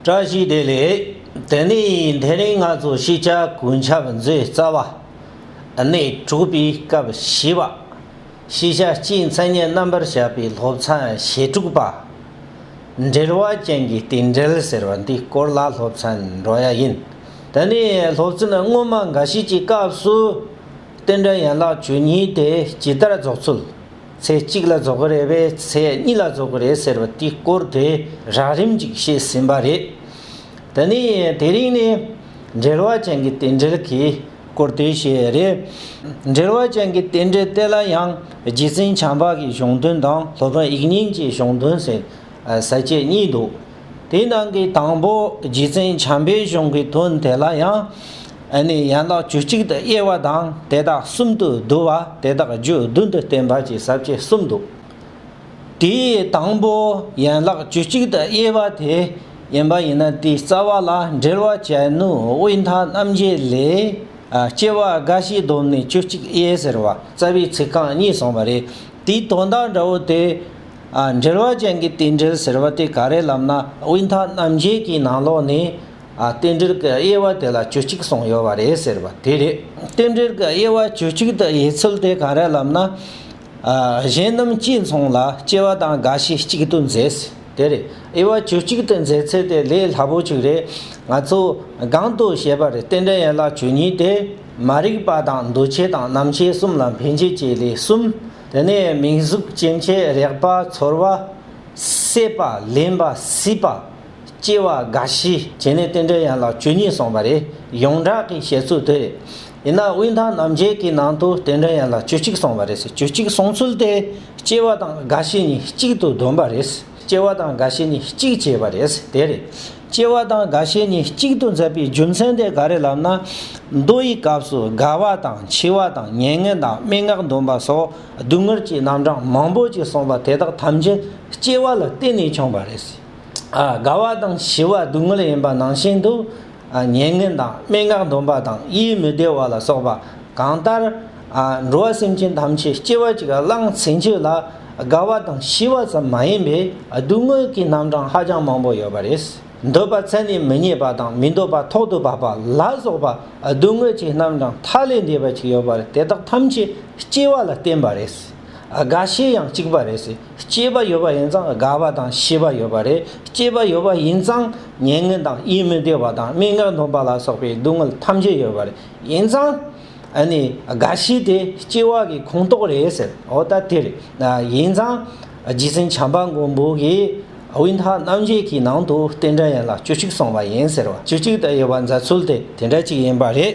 བཀྲ་ཤིས་བདེ་ལེགས། དེ་ནས་དེ་རིང་ང་ཚོ་ཤེས་བྱ་གོས་འཆབ་མཛོད་རྩ་བ་ནས་གྲུབ་པའི་སྐབས་བཞི་བ། ཤེས་བྱ་སྤྱིའི་མཚན་སྙན་རྣམ་པར་བཞག་པའི་སློབ་ཚན་ཞེ་དྲུག་པ། འབྲེལ་བ་ཅན་གྱི་རྟེན་འབྲེལ་ཟེར་བ་འདིའི་སྐོར་ལ་སློབ་ཚན་འགྲོ་ཡ་ཡིན། དེ་ནས་སློབ་ཚན་སྔོན་མ་འགའ་ཞིག་གི་སྐབས་སུ། རྟེན་འབྲེལ་ཡན་ལག་བཅུ་གཉིས་དེ་ཇི་ལྟར་རྫོགས་ཚུལ། ཚེས་གཅིག་ལ་རྫོགས་ཀྱི་རེད་པས་ཚེས་གཉིས་ལ་རྫོགས་ཀྱི་རེད་ཟེར་བ་དེའི་སྐོར་དེ་རགས་རིམ་ཅིག་བཤད་ཟིན་པ་རེད། དེ་ནས་དེ་རིང་ནི་འབྲེལ་བ་ཅན་གྱི་རྟེན་འབྲེལ་གྱི་སྐོར་དེ་བཤད་རེད། འབྲེལ་བ་ཅན་གྱི་རྟེན་འབྲེལ་དེ་ལ་ཡང་རྗེ་བཙུན་བྱང་འཕགས་ཀྱི་གཞུང་དོན་དང་ལྷོ་བོན་དབྱིག་གཉེན་གྱི་གཞུང་དོན་ཟེར་ས་བཅས་གཉིས་འདུག། དེའི་ནང་གི་དང་པོ་རྗེ་བཙུན་བྱམས་པའི་གཞུང་གི་དོན་དེ་ལ་ཡང། ནི་ཡན་ལག་བཅུ་གཅིག་ཏུ་དབྱེ་བ་དང་དེ་དག་གསུམ་དུ་བསྡུ་བ་དེ་དག་རྒྱུད་བདུན་དུ་བསྟན་པ་བཅས་ཟབ་ཁྱད་གསུམ་འདུག། དེའི་དང་པོ་ཡན་ལག་བཅུ་གཅིག་ཏུ་དབྱེ་བ་དེ་ཡིན་པ་ཡིན་ན་དེའི་རྩ་བ་ལ་འགྲེལ་བ་བྱ་ནུས་དབུས་མཐའ་རྣམ་རྒྱལ་ལས། སྐྱེ་བ་རྒ་ཤིའི་སྡོམ་ནི་བཅུ་གཅིག་དབྱེ་ཟེར་བ་རྩ་བའི་ཚིག་རྐང་གཉིས་གསུངས་པ་རེད། དེའི་དོན་དག་འདྲ་བོ་དེ། འགྲེལ་བ་ཅན་གྱི་རྟེན་འབྲེལ་ཟེར་བ་དེ་ག་རེ་ལབ་ན་དབུས་མཐའ་རྣམ་རྒྱལ་གྱི་ནང་ལོགས་ནས། རྟེན་འབྲེལ་གྱི་དབྱེ་བ་དེ་ལ་བཅུ་གཅིག་གསུངས་ཡོད་པ་རེད་ཟེར་བ་དེ་རེད། རྟེན་འབྲེལ་གྱི་དབྱེ་བ་བཅུ་གཅིག་དུ་དབྱེ་ཚུལ་དེ་ག་རེ་ལབ་ན། གཞན་རྣམས་གཅིག་མཚུངས་ལ་སྐྱེ་བ་དང་རྒ་ཤི་གཅིག་ཏུ་མཛད་ཟེར་དེ་རེད། དབྱེ་བ་བཅུ་གཅིག་ཏུ་མཛད་ཚུལ་དེ་ལས་སླ་པོ་གཅིག་རེད། ང་ཚོས་སྒང་དུ་བཤད་པར་རྟེན་འབྲེལ་ཡན་ལག་བཅུ་གཉིས་ཏེ། མ་རིག་པ་དང་འདུ་བྱེད་དང་རྣམ་ཤེས་གསུམ་ལ་འཕེན་བྱེད་ཀྱི་ལས་གསུམ། དེ་ནས་མིང་གཟུགས་སྐྱེ་མཆེད་རེག་པ་ཚོར་བ། སྲེད་པ་ལེན་པ་སྲིད་པ། སྐྱེ་བ་རྒ་ཤི་བྱེད་ནི་རྟེན་འབྲེལ་ཡན་ལག་བཅུ་གཉིས་གསུངས་པ་རེད། ཡོངས་གྲགས་ཀྱི་བཤད་ཚུལ་དེ་རེད། ཡིན་ན་དབུས་མཐའ་རྣམ་འབྱེད་ཀྱི་ནང་དུ་རྟེན་འབྲེལ་ཡན་ལག་བཅུ་གཅིག་གསུངས་པ་རེད། བཅུ་གཅིག་གསུངས་ཚུལ་དེ་སྐྱེ་བ་དང་རྒ་ཤི་གཉིས་གཅིག་ཏུ་བསྡོམས་པ་རེད། སྐྱེ་བ་དང་རྒ་ཤི་གཉིས་གཅིག་བྱས་པ་རེད་དེ་རེད། སྐྱེ་བ་དང་རྒ་ཤས་གཉིས་གཅིག་ཏུ་འཛད་པའི་རྒྱུ་མཚན་དེ་ག་རེ་ལབ་ན། མདོ་ཡི་སྐབས་སུ་རྒ་བ་དང་འཆི་བ་དང་མྱ་ངན་དང་སྨྲེ་སྔགས་འདོན་པ་སོགས་སྡུག་བསྔལ་གྱི་རྣམ་གྲངས་མང་པོ་ཅིག་གསུངས་པ་དེ་དག་ཐམས་ཅད་སྐྱེ་བ་ལ་བརྟེན་ནས་བྱུང་བ་རེད། རྒ་བ་དང་འཆི་བ་སྡུག་བསྔལ་ཡིན་པ་ནང་བཞིན་དུ། མྱ་ངན་དང་སྨྲེ་སྔགས་འདོན་པ་དང་ཡིད་མི་བདེ་བ་ལ་སོགས་པ་གང་ལྟར། འགྲོ་བ་སེམས་ཅན་ཐམས་ཅད་སྐྱེ་བ་གཅིག་ལ་བླངས་ཟིན་རྒྱུ་ལ་དགའ་བ་དང་ཞི་བ་ཙམ་མ་ཡིན་པའི་སྡུག་བསྔལ་གྱི་རྣམ་གྲངས་ཧ་ཅང་མང་པོ་ཡོད་པ་རེད། འདོད་པ་ཚད་ནས་མི་རྙེད་པ་དང་མི་འདོད་པ་ཐོག་ཏུ་བབས་པ་ལ་སོགས་པ་སྡུག་བསྔལ་གྱི་རྣམ་གྲངས་མཐའ་ལས་འདས་པ་གཅིག་ཡོད་པ་རེད་དེ་དག་ཐམས་ཅད་སྐྱེ་བ་ལ་བརྟེན་པ་རེད། རྒ་ཤི་ཡང་གཅིག་པ་རེད། སྐྱེས་པ་ཡོད་པ་ཡིན་ཙང་རྒ་བ་དང་ཤི་བ་ཡོད་པ་རེད། སྐྱེས་པ་ཡོད་པ་ཡིན་ཙང་ཉེས་ངན་དང་ཡིད་མི་བདེ་བ་དང་སྨྲེ་སྔགས་འདོན་པ་ལ་སོགས་པའི་སྡུག་བསྔལ་ཐམས་ཅད་ཡོད་པ་རེད། ཡིན་ཙང། ཨ་ནི་རྒ་ཤི་དེ་སྐྱེ་བ་གི་ཁུངས་གཏོགས་རེད་ཟེར་འོ་ད་དེར་ཡིན་ཙང་རྗེ་བཙུན་བྱམས་པ་མགོན་པོ་གིས་དབུས་མཐའ་རྣམ་རྒྱལ་གྱི་ནང་དུ་རྟེན་འབྲེལ་ཡན་ལག་བཅུ་གཅིག་གསུངས་པ་ཡིན་ཟེར་བ་བཅུ་གཅིག་དང་དབྱེ་བ་འཛད་ཚུལ་དེ་དེ་འདྲ་གཅིག་ཡིན་པ་རེད།